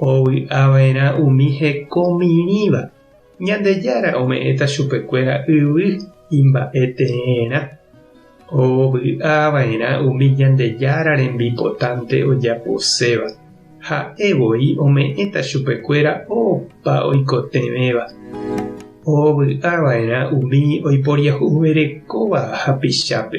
Ovy'ava'erã umi hekomirĩva, Ñandejára ome'ẽta chupekuéra yvy imba'eteerã. Ovy'ava'erã umi Ñandejára rembipotánte ojaposéva, Ha'e voi ome'ẽta chupekuéra opa oikotevẽva. Ovy'ava'erã umi oiporiahuverekóva hapichápe,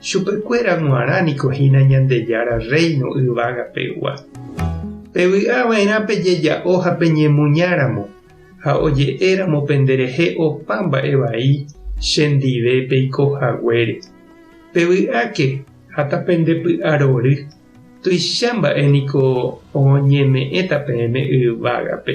Chupekuéra g̃uarã niko hína Ñandejára Rréino yvága pegua. Pevy'a va'erã pejeja'o ha peñemuñáramo, ha oje'éramo pende rehe opa mba'e vai che ndive peiko haguére. Pevy'áke ha tapendepy'arory, tuicha mba'e niko oñeme'ẽta peẽme yvágape.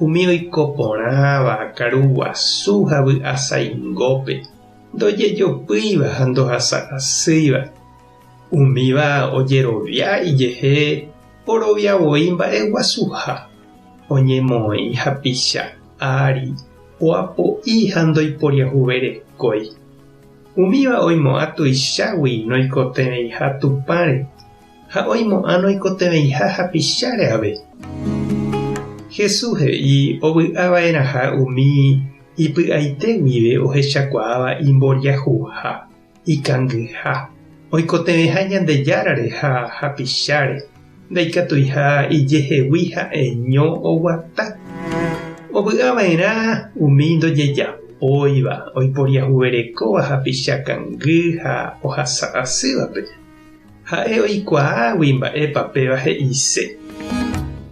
Umi oiko porãva, karu guasu ha vy'a saingópe, ndojejopýiva ha ndohasa asýiva, umíva ojerovia ijehe orovia voi mba'e guasuha, oñemoĩ hapicha ári, oapo'i ha ndoiporiahuverekói, umíva oimo'ã tuichágui noikotevẽiha Tupãre. ha oimo'ã noikotevẽiha hapicháre ave. Jesús he'i ovy'ava'erãha umi ipy'aite guive ohechakuaáva imboriahuha, ikangyha, oikotevẽha Ñandejárare ha hapicháre, ndaikatuiha ijehegui ha'eño oguata. Ovy'ava'erã umi ndojejapóiva, oiporiahuverekóva hapicha kangy ha ohasa asývape. Ha'e oikuaágui mba'épa péva he'ise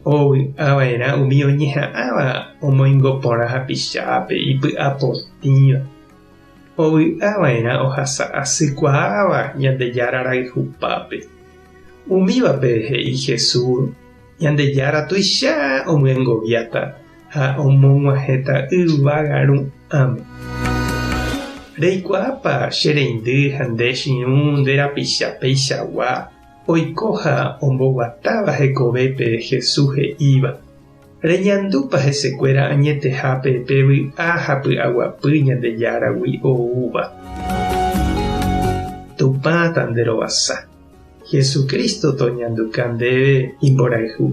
ovy'ava'erã umi oñeha'ãva omoingo porã hapichápe ipy'apotĩva, ovy'ava'erã ohasa asykuaáva Ñandejára rayhupápe. Umívape he'i Jesús, Ñandejára tuicha omyengoviáta ha omog̃uahẽta yvága rũ. Ame. Reikuaápa che reindy ha nde chiũ nde rapicha peichagua oiko ha omboguatáva hekovépe Jesús he'íva, Reñandúpa hesekuéra añetehápe pe vy'a ha py'aguapy Ñandejáragui oúva? Tupã tanderovasa, Jesucristo toñanduka ndéve imborayhu.